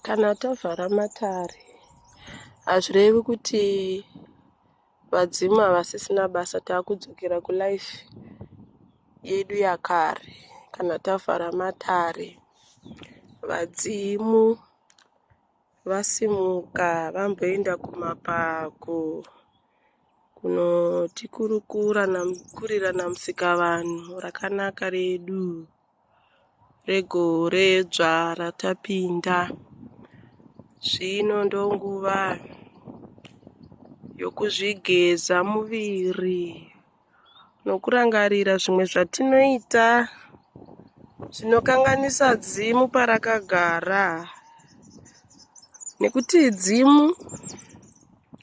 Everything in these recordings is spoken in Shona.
kana tavhara matare hazvirevi kuti vadzimu havasisina basa taakudzokera kulife yedu yakare kana tavhara matare vadzimu vasimuka vamboenda kumapako kunotikurukura nakurira namusika vanhu rakanaka redu regore dzva ratapinda zvino ndonguva yokuzvigeza muviri nokurangarira zvimwe zvatinoita zvinokanganisa dzimu parakagara nekuti dzimu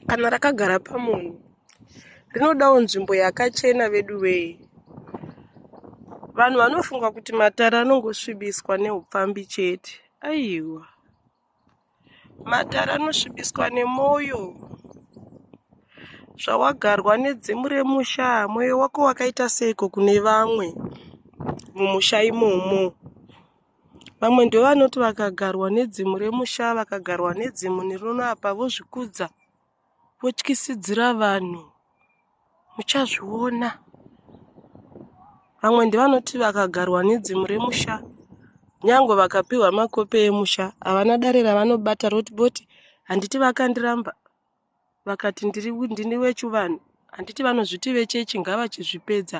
kana rakagara pamunhu rinodawo nzvimbo yakachena vedu wee vanhu vanofunga kuti matare anongosvibiswa neupfambi chete aiwa matare anosvibiswa nemwoyo zvawagarwa nedzimu remusha mwoyo wako wakaita seiko kune vamwe mumusha imomo vamwe ndovanoti vakagarwa nedzimu remusha vakagarwa nedzimu rinoapa vozvikudza votyisidzira vanhu muchazviona vamwe ndivanoti vakagarwa nedzimu remusha nyangwe vakapiwa makope emusha havana dare ravanobata roti boti handiti vakandiramba vakati ndiri ndini wechivanhu handiti vanozviti vechechi ngavachizvipedza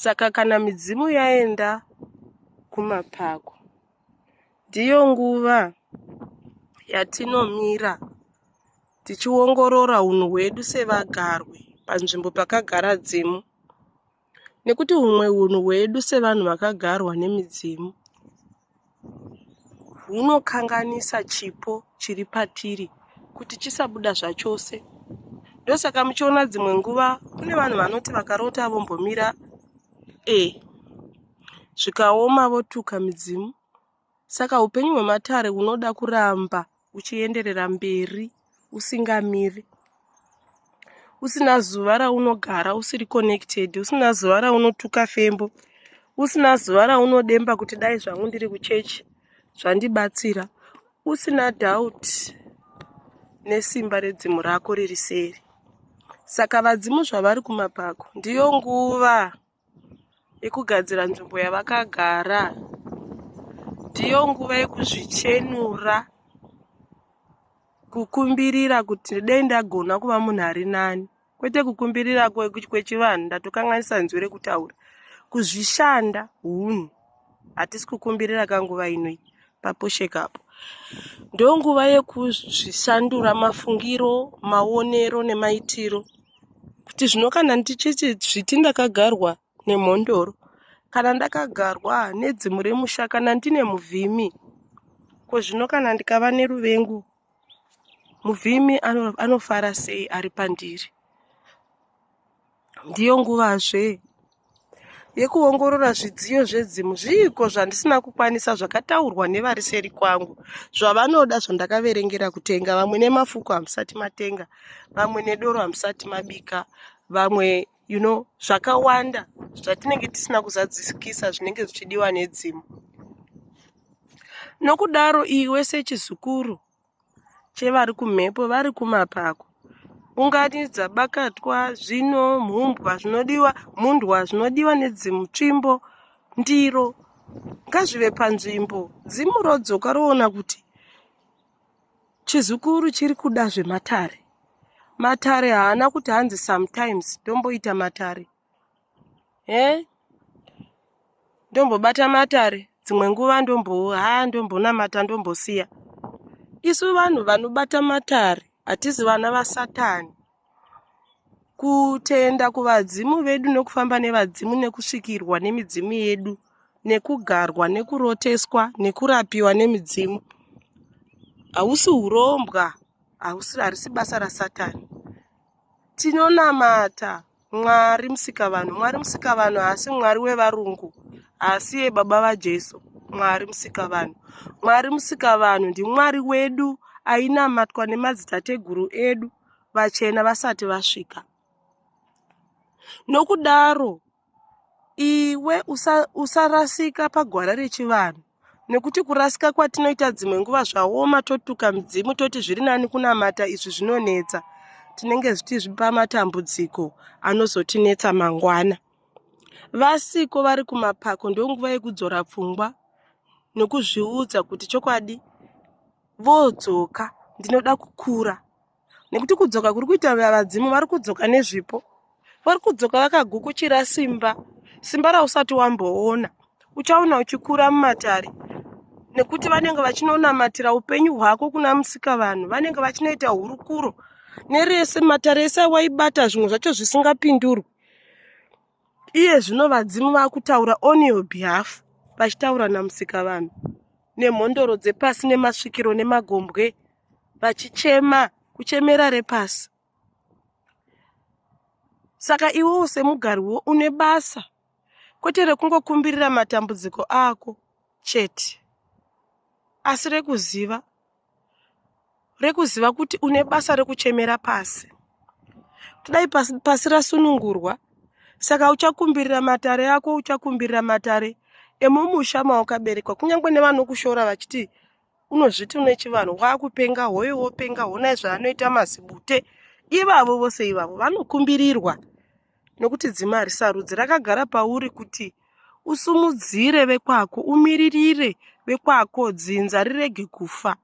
Saka kana midzimu yaenda kumapako, ndiyo nguva yatinomira tichiongorora unhu hwedu sevagarwe panzvimbo pakagara dzimu nekuti humwe unhu hwedu sevanhu vakagarwa nemidzimu hunokanganisa chipo chiri patiri kuti chisabuda zvachose. Ndosaka muchiona dzimwe nguva kune vanhu vanoti vakarota vombomira e zvikaoma votuka midzimu. Saka upenyu hwematare hunoda kuramba uchienderera mberi usingamiri usina zuva raunogara usiri connected usina zuva raunotuka fembo usina zuva raunodemba kuti dai zvangu ndiri kuchechi zvandibatsira usina doubt nesimba redzimu rako riri seri saka vadzimu zvavari kumapako ndiyo nguva yekugadzira nzvimbo yavakagara ndiyo nguva yekuzvichenura kukumbirira kuti dai ndagona kuva munhu ari nani kwete kukumbirira kwechivanhu ndatokanganisa nzwi rekutaura kuzvishanda hunhu hatisi kukumbirira kanguva inoi papusheka apo ndonguva yekuzvisandura mafungiro maonero nemaitiro kuti zvino kana ndichiti zviti ndakagarwa nemhondoro kana ndakagarwa nedzimu remusha kana ndine muvhimi ko zvino kana ndikava neruvengo muvhimi anofara sei ari pandiri ndiyo nguvazve yekuongorora zvidziyo zvedzimu zviiko zvandisina kukwanisa zvakataurwa nevari seri kwangu zvavanoda zvandakaverengera kutenga vamwe nemafuko hamusati matenga vamwe nedoro hamusati mabika vamwe you know zvakawanda zvatinenge tisina kuzadzikisa zvinenge zvichidiwa nedzimu nokudaro iwe sechizukuru chevari kumhepo vari kumapako ungati dzabakatwa zvino mhumbwa zvinodiwa mundwa zvinodiwa nedzimutsvimbo ndiro ngazvive panzvimbo dzimu rodzoka roona kuti chizukuru chiri kuda zvematare matare haana kuti hanzi sometimes tomboita matare he ndombobata matare dzimwe nguva ndombo ha ndombonamata ndombosiya isu vanhu vanobata matare hatizi vana vasatani kutenda kuvadzimu vedu nekufamba nevadzimu nekusvikirwa nemidzimu yedu nekugarwa nekuroteswa nekurapiwa nemidzimu hausi urombwa harisi basa rasatani tinonamata mwari musikavanhu mwari musikavanhu haasi mwari wevarungu haasi yebaba vajesu mwari musikavanhu mwari musikavanhu ndimwari wedu ainamatwa nemadzitateguru edu vachena vasati vasvika nokudaro iwe usarasika usa pagwara rechivanhu nekuti kurasika kwatinoita dzimwe nguva zvaoma totuka midzimu toti zviri nani kunamata izvi zvinonetsa tinenge zvichizvipa matambudziko anozotinetsa mangwana vasiko vari kumapako ndonguva yekudzora pfungwa nokuzviudza kuti chokwadi vodzoka ndinoda kukura nekuti kudzoka kuri kuita vadzimu vari kudzoka nezvipo vari kudzoka vakagukuchira simba simba rausati wamboona uchaona uchikura mumatare nekuti vanenge vachinonamatira upenyu hwako kuna musika vanhu vanenge vachinoita hurukuro nerese matare ese awaibata zvimwe zvacho zvisingapindurwi iye zvino vadzimu vakutaura on your behalf vachitaura namusika vanhu nemhondoro dzepasi nemasvikiro nemagombwe vachichema kuchemera repasi saka iwewo semugariwo une basa kwete rekungokumbirira matambudziko ako chete asi rekuziva rekuziva kuti une basa rekuchemera pasi kudai pasi, pasi rasunungurwa saka uchakumbirira matare ako uchakumbirira matare emumusha mawakaberekwa kunyange nevanokushora vachiti unozviti une chivanhu wakupenga hoyo wopenga honai zvaanoita mazibute ivavo vose ivavo vanokumbirirwa nokuti dzima harisarudzi rakagara pauri kuti usumudzire vekwako umiririre vekwako dzinza rirege kufa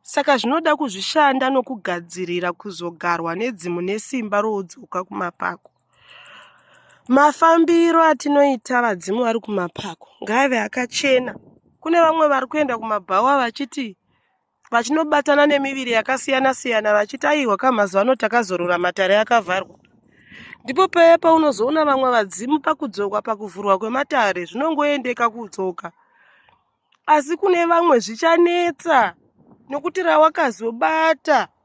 saka zvinoda kuzvishanda nokugadzirira kuzogarwa nedzimu nesimba roudzoka kumapako mafambiro atinoita vadzimu vari kumapako ngaave akachena kune vamwe vari kuenda kumabhawa vachiti vachinobatana nemiviri yakasiyana siyana vachiti aiwa ka mazuva ano takazorora matare akavharwa ndipo paya paunozoona vamwe vadzimu pakudzokwa pakuvhurwa kwematare zvinongoendeka kudzoka asi kune vamwe zvichanetsa nokuti rawakazobata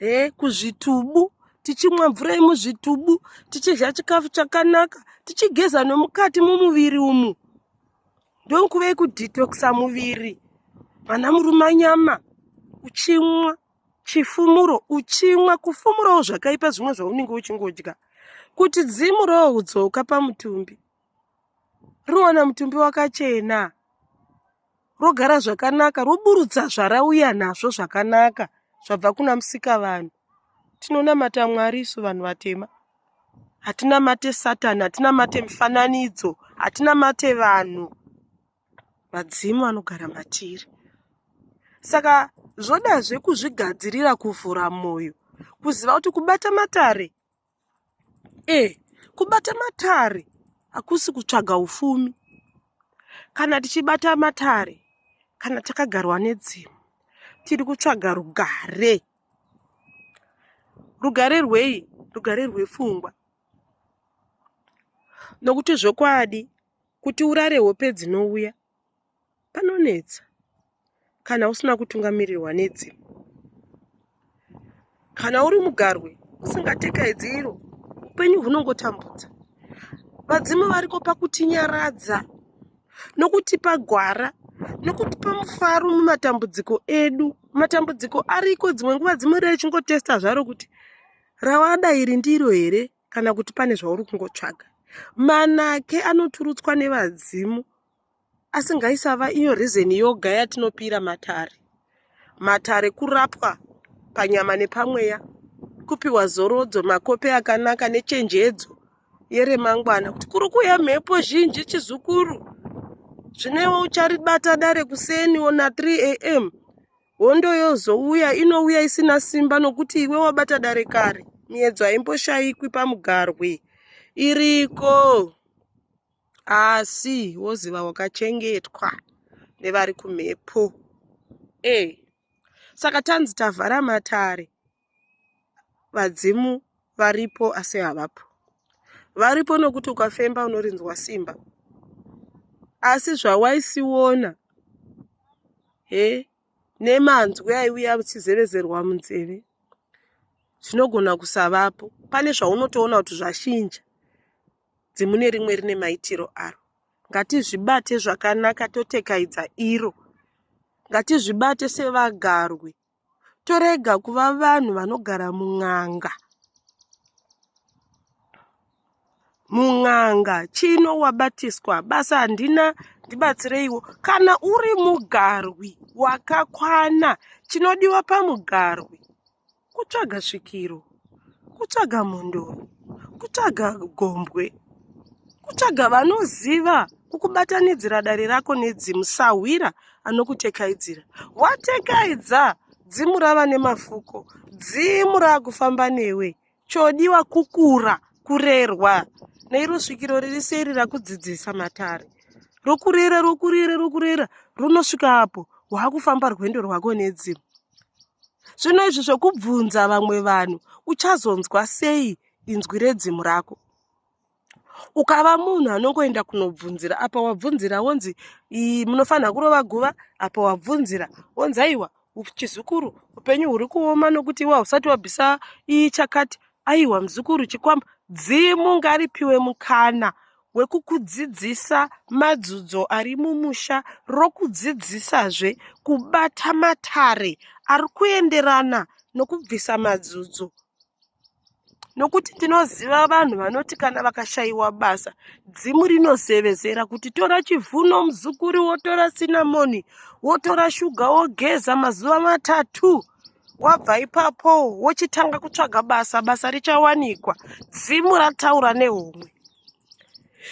he kuzvitubu tichimwa mvura yemuzvitubu tichidya chikafu chakanaka tichigeza nomukati mumuviri umu ndonkuve kudetoxa muviri vana murume anyama uchimwa chifumuro uchimwa kufumurawo zvakaipa zvimwe zvaunenge uchingodya kuti dzimu roodzoka pamutumbi rowana mutumbi wakachena rogara zvakanaka roburutsa zvarauya nazvo zvakanaka zvabva kuna musika vanhu tinonamata mwari isu vanhu vatema hatinamate satani hatinamate mifananidzo hatinamate vanhu vadzimu vanogara matiri saka zvodazve kuzvigadzirira kuvhura mwoyo kuziva kuti kubata matare e kubata matare hakusi kutsvaga ufumi kana tichibata matare kana takagarwa nedzimu tiri kutsvaga rugare rugare rwei rugare rwefungwa nokuti zvokwadi kuti urare hope dzinouya panonetsa kana usina kutungamirirwa nedzimu kana uri mugarwe usingatekahedzi iro upenyu hunongotambudza vadzimu variko pakutinyaradza nokutipa gwara nokutipa mufaro mumatambudziko edu matambudziko ariko dzimwe nguva dzimwe rei chingotesta zvaro kuti rawada iri ndiro here kana kuti pane zvauri kungotsvaga manake anoturutswa nevadzimu asi ngaisava iyo reason yoga yatinopira matare matare kurapwa panyama nepamweya kupiwa zorodzo makope akanaka nechenjedzo yeremangwana kuti kuri kuuya mhepo zhinji chizukuru zvinewo ucharibata dare kuseni ona 3 am hondo yozouya inouya isina simba nokuti iwe wabata dare kare miedzo haimboshayikwi pamugarwi iriko asi woziva wakachengetwa nevari kumhepo e saka tanzi tavhara matare vadzimu varipo asi havapo varipo nokuti ukafemba unorinzwa simba asi zvawaisiona he nemanzwi aiuya uchizevezerwa munzeve zvinogona kusavapo pane zvaunotoona kuti zvashinja dzimune rimwe rine maitiro aro ngatizvibate zvakanaka totekaidza iro ngatizvibate sevagarwi torega kuva vanhu vanogara mun'anga mun'anga chino wabatiswa basa handina ndibatsireiwo kana uri mugarwi wakakwana chinodiwa pamugarwi kutsvaga svikiro kutsvaga mhondoro kutsvaga gombwe kutsvaga vanoziva kukubatanidzira dare rako nedzimu sahwira anokutekaidzira watekaidza dzimu rava nemafuko dzimu raakufamba newe chodiwa kukura kurerwa neiro svikiro riri seri rakudzidzisa matare rokurera rokurera rokurera runosvika apo waakufamba rwendo rwako nedzimu zvino izvi zvokubvunza vamwe vanhu uchazonzwa sei inzwi redzimu rako ukava munhu anongoenda kunobvunzira apa wabvunzira wonzi munofanira kurova guva apa wabvunzira wonzi aiwa chizukuru upenyu huri kuoma nokuti iwa usati wabvisa ichakati aiwa muzukuru chikwambo dzimu ngaripiwe mukana hwekukudzidzisa madzudzo ari mumusha rokudzidzisazve kubata matare ari kuenderana nokubvisa madzudzo nokuti ndinoziva vanhu vanoti kana vakashayiwa basa dzimu rinozevezera kuti tora chivhuno muzukuri wotora sinamoni wotora shuga wogeza mazuva matatu wabva ipapo wochitanga kutsvaga basa basa richawanikwa dzimu rataura nehomwe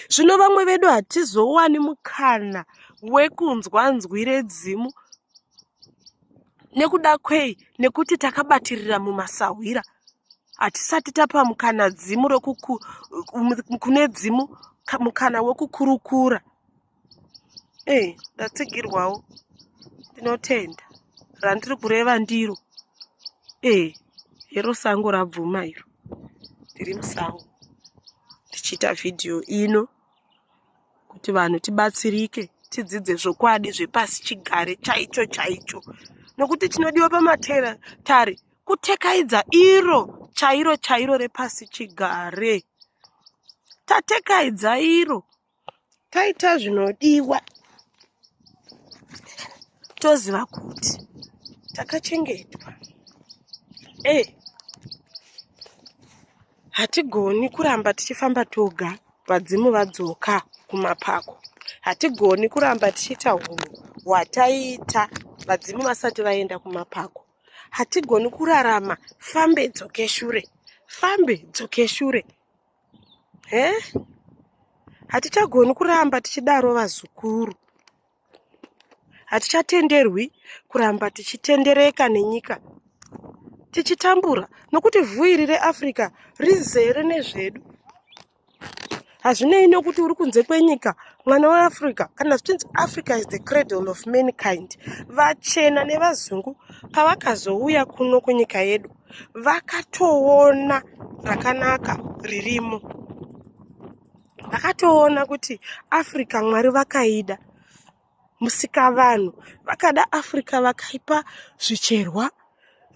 zvino vamwe vedu hatizowani mukana wekunzwa nzwi redzimu nekuda kwei nekuti takabatirira mumasahwira hatisati tapa mukana dzimu kune dzimu mukana wekukurukura Hey, eh, ndatsigirwawo ndinotenda randiri kureva ndiro ee eh, hero sango rabvuma iro ndiri musango ndichiita vhidhiyo ino kuti vanhu tibatsirike tidzidze zvokwadi zvepasi chigare chaicho chaicho nokuti chinodiwa pamatera tari kutekaidza iro chairo chairo repasi chigare tatekaidza iro taita zvinodiwa toziva kuti takachengetwa e hatigoni kuramba tichifamba toga vadzimu vadzoka kumapako hatigoni kuramba tichiita hunhu hwataiita vadzimu vasati vaenda kumapako hatigoni kurarama fambe dzoke shure fambe dzoke shure he hatichagoni kuramba tichidaro vazukuru hatichatenderwi kuramba tichitendereka nenyika tichitambura nokuti vhuiri reafrica rizere nezvedu hazvinei nokuti uri kunze kwenyika mwana weafrica kana zvichinzi africa is the cradle of mankind vachena nevazungu pavakazouya kuno kunyika yedu vakatoona rakanaka ririmo vakatoona kuti africa mwari vakaida musikavanhu vakada africa vakaipa zvicherwa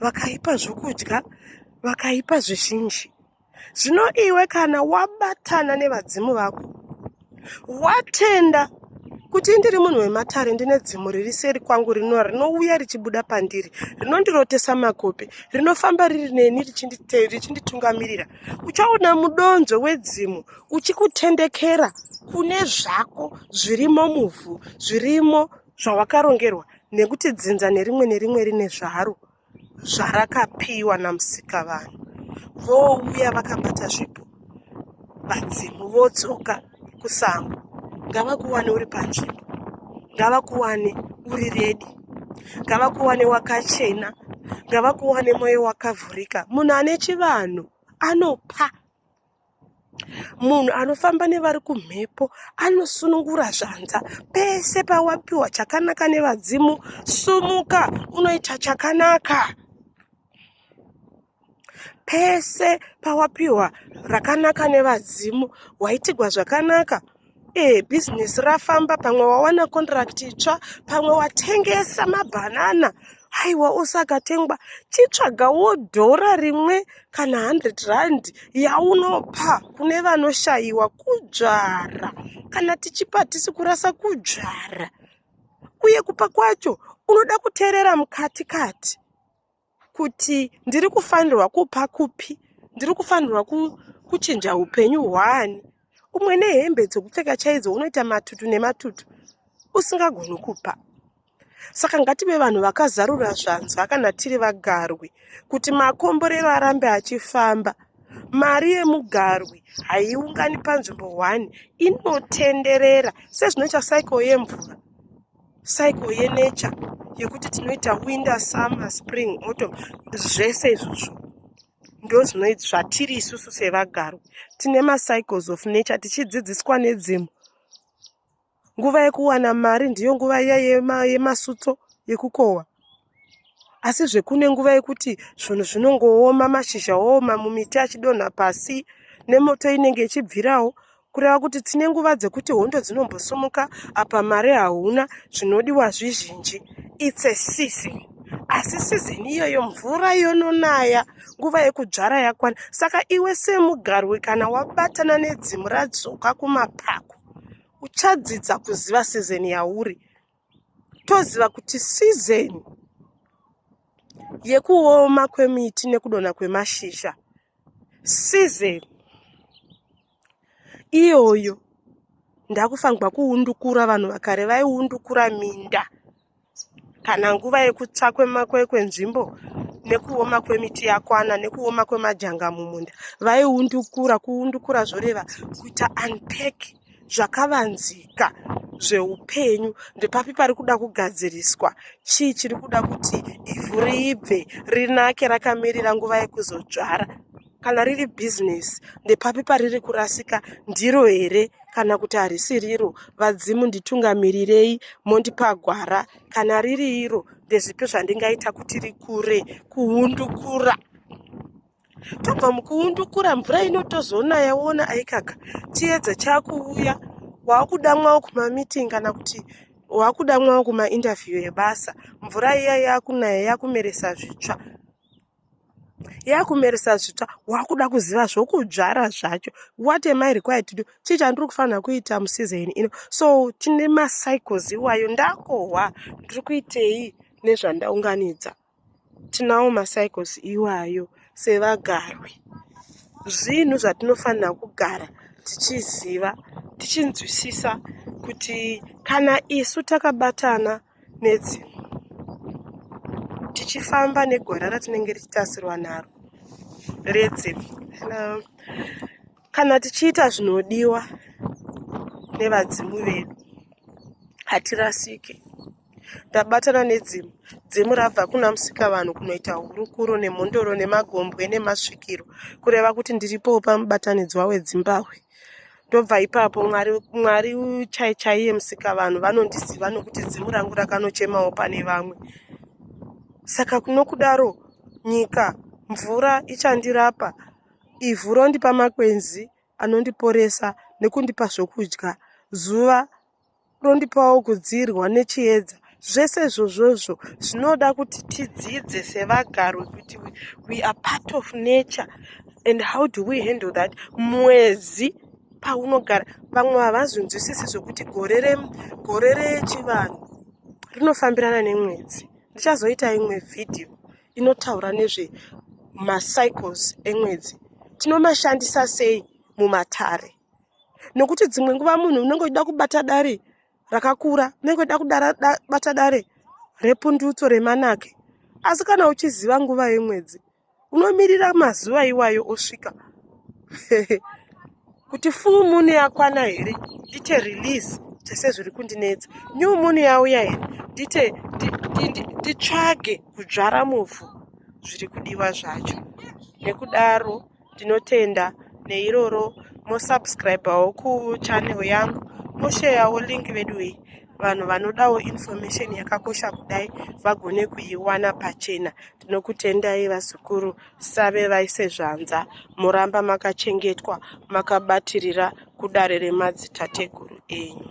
vakaipa zvokudya vakaipa zvizhinji zvino iwe kana wabatana nevadzimu vako watenda kuti ndiri munhu wematare ndine dzimu riri seri kwangu rino rinouya richibuda pandiri rinondirotesa makope rinofamba riri neni richinditungamirira uchaona mudonzvo wedzimu uchikutendekera kune zvako zvirimo muvhu zvirimo zvawakarongerwa nekuti dzinza nerimwe nerimwe rine zvaro zvarakapiwa namusikavanhu vouya vakabata zvipo vadzimu vodzoka kusango ngavakuwane uri panzvimbo ngavakuwane uri redi ngavakuwane wakachena ngavakuwane mwoyo wakavhurika munhu ane chivanhu anopa munhu anofamba nevari kumhepo anosunungura zvanza pese pawapiwa chakanaka nevadzimu sumuka unoita chakanaka pese pawapiwa rakanaka nevadzimu waitigwa zvakanaka e business rafamba pamwe wawana contract itsva pamwe watengesa mabhanana haiwa osakatengwa chitsvagawo dhora rimwe kana 100 rand yaunopa kune vanoshayiwa kudzvara kana tichipa hatisi kurasa kudzvara uye kupa kwacho unoda kuteerera mukati kati kuti ndiri kufanirwa kupa kupi ndiri kufanirwa kuchinja upenyu hwaani umwe nehembe dzokupfeka chaidzo unoita matutu nematutu usingagoni kupa saka ngative vanhu vakazarura zvanzwa kana tiri vagarwi kuti makomborero arambe achifamba mari yemugarwi haiungani panzvimbo one inotenderera sezvinoita cycle yemvura cycle yenature yekuti tinoita winter summer spring autumn zvese izvozvo ndozvinoit zvatiri isusu sevagaro tine macycles of nature tichidzidziswa nedzimu nguva yekuwana mari ndiyo nguva iya yemasutso yekukohwa asizve kune nguva yekuti zvinhu zvinongooma mashizha ooma mumiti achidonha pasi nemoto inenge ichibvirawo kureva kuti tine nguva dzekuti hondo dzinombosumuka apa mari hauna zvinodiwa zvizhinji its a season asi sizini iyoyo mvura yononaya nguva yekudzvara yakwana saka iwe semugarwi kana wabatana nedzimu radzoka kumapako uchadzidza kuziva sizini yauri toziva kuti season yekuoma kwemiti nekudonha kwemashizha season iyoyo ndakufanirwa kuundukura vanhu vakare vaiundukura minda kana nguva yekutsva kwenzvimbo nekuoma kwemiti yakwana nekuoma kwemajanga mumunda vaiundukura kuundukura zvoreva kuita unpack zvakavanzika zveupenyu ndepapi pari kuda kugadziriswa chii chiri kuda kuti ivhu riibve rinake rakamirira nguva yekuzodzvara kana riri bhizinesi ndepapi pariri kurasika ndiro here kana kuti harisi riro vadzimu nditungamirirei mondipa gwara kana riri iro ndezvipi zvandingaita kuti rikure kuhundukura tobva mukuundukura mvura inotozoona yaona aikaka chiedza chakuuya wakudamwawo kumameeting kana kuti wakudamwawo kumainterview ebasa mvura iya yakunaya yakumeresa zvitsva yakumeresa zvitsva wakuda kuziva zvokudzvara zvacho what am i required to do chii chandiri kufanira kuita musizeni ino so tine macycles iwayo ndakohwa ndiri kuitei nezvandaunganidza tinawo macycles iwayo sevagarwi zvinhu zvatinofanira kugara tichiziva tichinzwisisa kuti kana isu takabatana nedzimu tichifamba negwara ratinenge richitarisirwa naro redzimu kana tichiita zvinodiwa nevadzimu vedu hatirasike Ndabatana nedzimu. Dzimu rabva kuna Musikavanhu kunoita hurukuro nemhondoro nemagombwe nemasvikiro kureva kuti ndiripowo pamubatanidzwa wedzimbahwe. Ndobva ipapo Mwari Mwari chai chaiye Musikavanhu vanondiziva nokuti dzimu rangu rakanochemawo pane vamwe. Saka kunokudaro nyika mvura ichandirapa ivhu rondipa makwenzi anondiporesa nekundipa zvokudya zuva rondipawo kudziirwa nechiedza zvese zvozvozvo zvinoda kuti tidzidze sevagarwi kuti we are part of nature and how do we handle that mwedzi paunogara vamwe havazvinzwisisi zvokuti gore regore rechivanhu rinofambirana nemwedzi ndichazoita imwe vhidhiyo inotaura nezve macycles emwedzi tinomashandisa sei mumatare nokuti dzimwe nguva munhu unenge uchida kubata dare rakakura unenge uchida kubata dare repundutso remanake asi kana uchiziva nguva yemwedzi unomirira mazuva iwayo osvika kuti fuu mune yakwana here ite release tese zviri kundinetsa new mune yauya here ndite nditsvage kudzvara muvhu zviri kudiwa zvacho nekudaro ndinotenda neiroro mosubscribawo kuchannel yangu mosheyawo link veduwei vanhu vanodawo information yakakosha kudai vagone kuiwana pachena tinokutendai vazukuru save vaise zvanza moramba makachengetwa makabatirira kudare remadzitateguru enyu